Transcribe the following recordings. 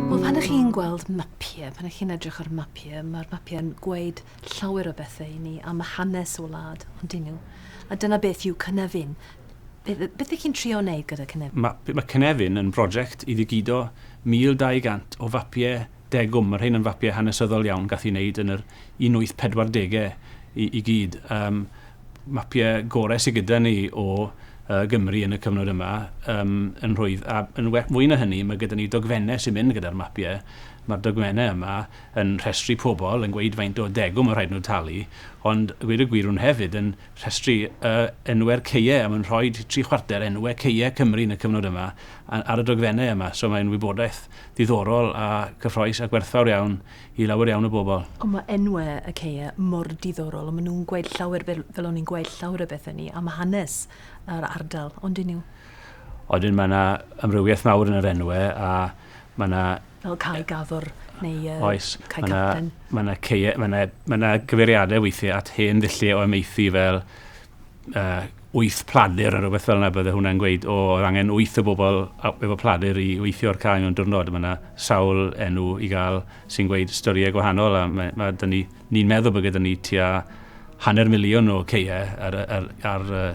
Wel, pan ych chi'n gweld mapiau, pan ych chi'n edrych ar mapiau, mae'r mapiau'n gweud llawer o bethau i ni am y hanes o wlad, ond dyn nhw. A dyna beth yw Cynefin. Beth ych chi'n trio wneud gyda Cynefin? Mae, mae Cynefin yn brosiect i ddigido 1,200 o fapiau degwm. Mae rhain yn fapiau hanesyddol iawn, gath i wneud yn yr 1840au i, i gyd. Um, mapiau gorau sydd gyda ni o Gymru yn y cyfnod yma yn rhwydd. A yn well, fwy na hynny, mae gyda ni dogfennau sy'n mynd gyda'r mapiau. Mae'r dogfennau yma yn rhestru pobl, yn gweud faint o degwm mae'n rhaid nhw talu, ond gweud y gwir nhw hefyd yn rhestru enwau'r caeau, a mae'n rhoi tri chwarter enwau caeau Cymru yn y cyfnod yma ar y dogfennau yma. So mae'n wybodaeth ddiddorol a cyffroes a gwerthfawr iawn i lawer iawn o bobl. Ond mae enwau y caeau mor diddorol, ond maen nhw'n gweud llawer, fel, fel o'n i'n gweud, llawer o bethau ni am hanes yr ardal, ond dyn nhw? Odyn, mae yna amrywiaeth mawr yn yr enwau, a mae yna... Fel Cae Gafr, neu uh, Oes, Cae mae Capten. Mae yna caeau, mae yna, mae yna gyfeiriadau weithiau at hen ddulliau o amaethu fel wyth pladur neu rhywbeth fel yna, bydde hwnna'n gweud, o, oedd angen wyth o bobl efo pladur i weithio'r cae mewn diwrnod. Mae yna sawl enw i gael sy'n gweud storïau gwahanol, a mae, mae dyn ni, ni'n meddwl bod gyda ni tua hanner miliwn o caeau ar, ar, ar uh,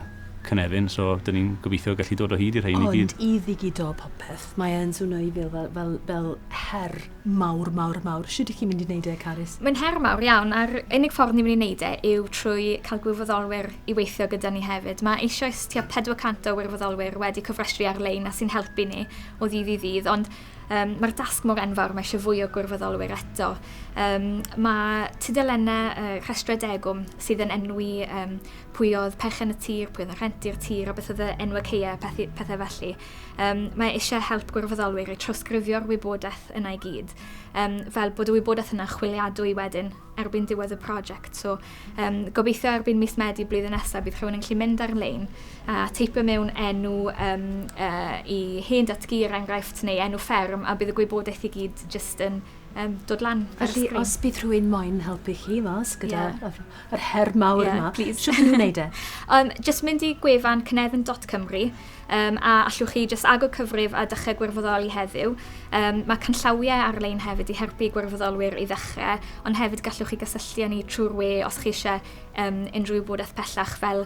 cynefin, so dyn ni'n gobeithio gallu dod o hyd i'r rhain i gyd. Ond i ddigido popeth, mae e'n swnio i fel, fel, fel, fel her Mawr, mawr, mawr. Shwt ych chi'n mynd i wneud e, Carys? Mae'n her mawr iawn, a'r unig ffordd ni'n mynd i wneud e yw trwy cael gwirfoddolwyr i weithio gyda ni hefyd. Mae eisioes tua 400 o wirfoddolwyr wedi cofrestru ar-lein a sy'n helpu ni o ddydd i ddydd, ond um, mae'r dasg mor enfawr, mae eisiau fwy o gwirfoddolwyr eto. Um, mae tudalennau uh, rhestrau degwm sydd yn enwi um, pwy oedd perchen y tir, pwy oedd yn rhenti'r tir, a beth oedd y enwau ceia, pethau, pethau felly. Um, mae eisiau help gwirfoddolwyr i trawsgrifio'r wybodaeth yna i gyd, um, fel bod y wybodaeth yna chwiliadwy wedyn erbyn diwedd y prosiect. So, um, gobeithio erbyn mis Medi blwyddyn nesaf bydd rhywun yn gallu mynd ar-lein a teipio mewn enw um, uh, i hen datgu er enghraifft neu enw fferm a bydd y gwybodaeth i gyd jyst yn um, dod lan. Felly, os bydd rhywun moyn helpu chi mas gyda yeah. yr her mawr yeah, yma. Please. Siwr nhw'n gwneud e? um, just mynd i gwefan cynefin.cymru um, a allwch chi just agor cyfrif a dechrau gwirfoddoli heddiw. Um, mae canllawiau ar-lein hefyd i helpu gwirfoddolwyr i ddechrau, ond hefyd gallwch chi gysylltu â ni trwy'r we os chi eisiau um, unrhyw wybodaeth pellach fel